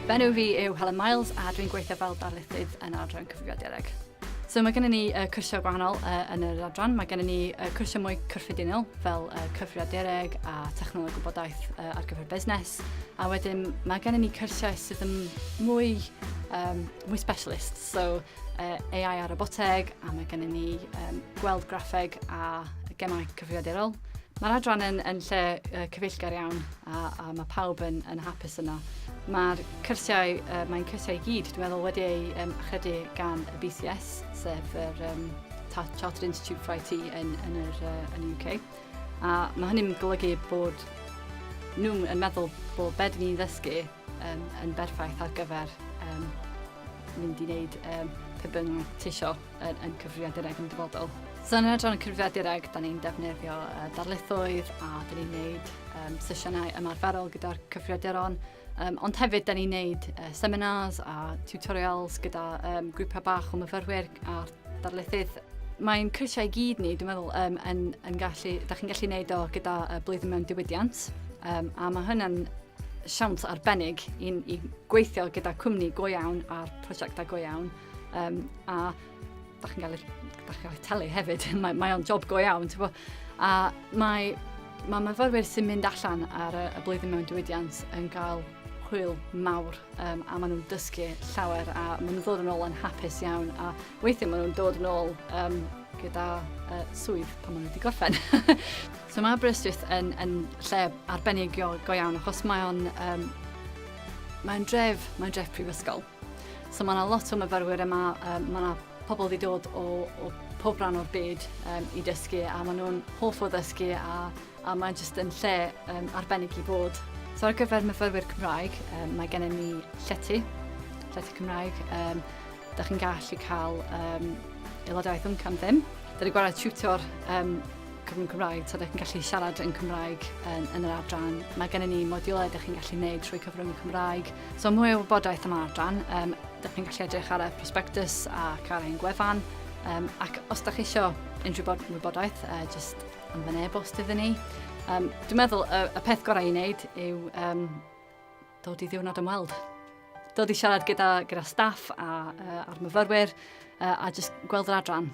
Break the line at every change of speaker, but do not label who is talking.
Fy enw fi yw Helen Miles a dwi'n gweithio fel darlithydd yn yr adran cyfrifiadureg. So mae gennym ni uh, cwrsiau gwahanol uh, yn yr adran. Mae gennym ni uh, cwrsiau mwy cyffredinol fel uh, cyfrifiadureg a technoleg gwybodaeth uh, ar gyfer busnes. A wedyn mae gennym ni cwrsiau sydd yn mwy, um, mwy specialist. So AI a roboteg, a mae gennym ni um, gweld graffeg a gemau cyfrifiadurol. Mae'r adran yn, yn lle uh, cyfeillgar iawn a, a mae pawb yn, yn hapus yno. Mae'r cyrsiau, uh, mae'n cyrsiau i gyd, dwi'n meddwl, wedi ei um, achredu gan y BCS, sef yr um, Chartered Institute for IT yn, yn, yr, uh, yn y UK. A mae hynny'n golygu bod nhw'n meddwl bod beth ni'n ddysgu um, yn berffaith ar gyfer um, mynd i wneud um, pe byn nhw'n tisio yn, yn cyfrifiadureg yn dyfodol. So yn edrych yn cyfrifiadureg, da ni'n defnyddio uh, darlithoedd a da ni'n gwneud um, sesiynau ymarferol gyda'r cyfrifiaduron. Um, ond hefyd, da ni'n gwneud uh, seminars a tutorials gyda um, grwpiau bach o myfyrwyr a darlithydd mae'n cyrsiau i gyd ni, dwi'n meddwl, um, yn, yn gallu, da chi'n gallu gwneud o gyda uh, blwyddyn mewn diwydiant, um, a mae hynny'n siawns arbennig i, i gweithio gyda cwmni go iawn a prosiectau go iawn. Um, a da chi'n gael, da chi'n gael telu hefyd, mae, mae o'n job go iawn. Bo. A mae, mae myfyrwyr sy'n mynd allan ar y, y blwyddyn mewn diwydiant yn cael hwyl mawr um, a maen nhw'n dysgu llawer a maen nhw'n ddod yn ôl yn hapus iawn a Weithiau maen nhw'n dod yn ôl um, gyda uh, swydd pan maen nhw wedi gorffen. so mae Aberystwyth yn, yn lle arbennig go, go iawn achos mae o'n um, mae'n dref, mae'n dref prifysgol. So mae yna lot o myfyrwyr yma, um, mae yna pobl wedi dod o, o pob rhan o'r byd um, i dysgu a maen nhw'n hoff o ddysgu a, a mae'n jyst yn lle um, arbennig i bod. So ar gyfer myfyrwyr Cymraeg, um, mae gennym ni llety, llety Cymraeg, um, Da chi'n gallu cael um, aelodaeth ymcan ddim. Da ni'n gwared tutor um, cyfrwng Cymraeg, so da chi'n gallu siarad yn Cymraeg yn, yn yr adran. Mae gennym ni modiwlau da chi'n gallu gwneud trwy cyfrwng Cymraeg. So mwy o wybodaeth am adran, um, da chi'n gallu edrych ar y prospectus ac ar ein gwefan. Um, ac os da chi eisiau unrhyw bod wybodaeth, uh, just yn fy e-bost iddyn ni. Um, dwi'n meddwl y, y peth gorau i wneud yw um, dod i ddiwrnod ymweld. Dod i siarad gyda, gyda staff a, uh, a'r myfyrwyr uh, a jyst gweld yr adran.